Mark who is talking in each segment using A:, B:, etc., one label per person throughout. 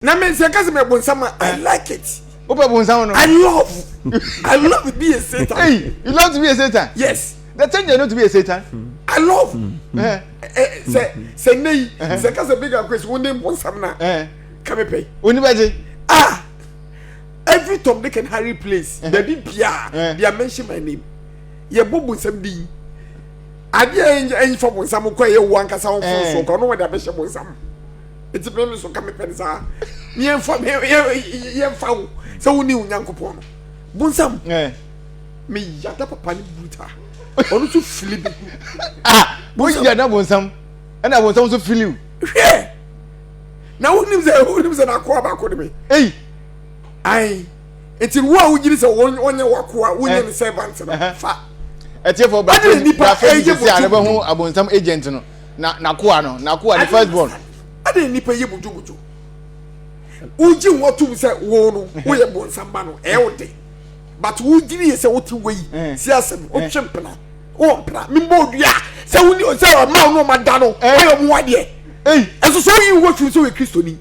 A: na me nsa kasa me bonsam a i like it. o pɛ bonsam no. i love
B: i love
A: to be a satan. hey you love to be a
B: satan. yes. the ten year
A: no to be a
B: satan. i love.
A: sɛ sɛ nne yi sɛ kasa bi ka kwesi wo ne bonsam na ka me pɛ. oni bɛ gye.
B: ah
A: every tom dick and harry place baabi biara they are mention my name yɛ bɔ bonsam din adeɛ ɛnfa bonsam kɔ yɛ wo ankasa wɔn fɔn so kɔ ɔno wɔn de abɛhyɛ bonsam. Enti me nso ka mepɛ no saa. Yɛmfa yɛmfa wo sɛ wo ne wo Nyankopɔn no. Bonsam. Eh. Me yada papa ne bruta. Ɔno nso fili bi. Ah, wo
B: yada bonsam. Ɛna bonsam nso fili wo. Hwɛ.
A: Na wo nim sɛ wo nim sɛ na akoa baako de me. Ei.
B: Ai.
A: Enti wo a wo gyiri sɛ wɔnyɛ wakoa, wo nyɛ ne eh. servant no. Fa. Ɛtiefo ba.
B: Ɛna nipa ɛyɛ bɔtɔ. Ɛna nipa ɛyɛ bɔtɔ. Ɛna nipa ɛyɛ bɔtɔ. na n'akoa no n'akoa ne first born. ɛna nipa yɛ
A: mudwumudwu wogye wo atum sɛ wo no woyɛ bonsamba no ɛyɛ wo de but wogyiri yɛ sɛ wote wei si asɛm wotwe mpena wɔ mpena membɔ odua sɛ woni sɛ ɔma wo no ɔma da no ɔyɛ ɔmo wadeɛ ɛso sɛ woyi wo firim sɛ woyɛ kristoni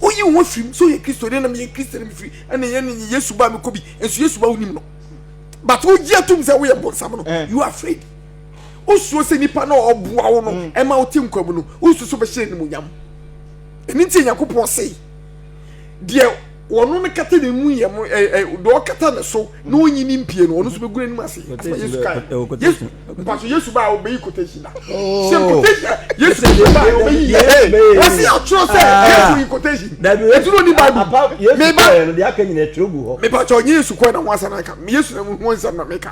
A: woyi wo firim sɛ woyɛ kristoni na meyɛ kristoni mefiri ɛne ɛne yesu ba mekɔ bi ɛnso yesu ba wonim no but wogye atum sɛ woyɛ bonsam no you afraid wosuro sɛ nipa no a ɔboa wo no mm. ɛma wote nkwa mu no wosusu bɛhyɛ animuonyam ɛno nti nyankopɔn se deɛ wɔn no kata ne mu yɛ mo ɛ ɛ deɛ ɔkata ne so na ɔnyi ne mpie no ɔno nso bɛgu n'anim ase ɛsɛ yesu kan yesu mpaso yesu baa ɔbɛyi quotation na sɛ quotation yesu yesu baa ɔbɛyi yɛ ɛ wɔsi atwerɛ sɛ yesu yi quotation etu n'oni baibu meba
C: meba kyɛ ɔnye yesu kɔɛ na
A: wɔn asan aka yesu na wɔn nsɛm na meka.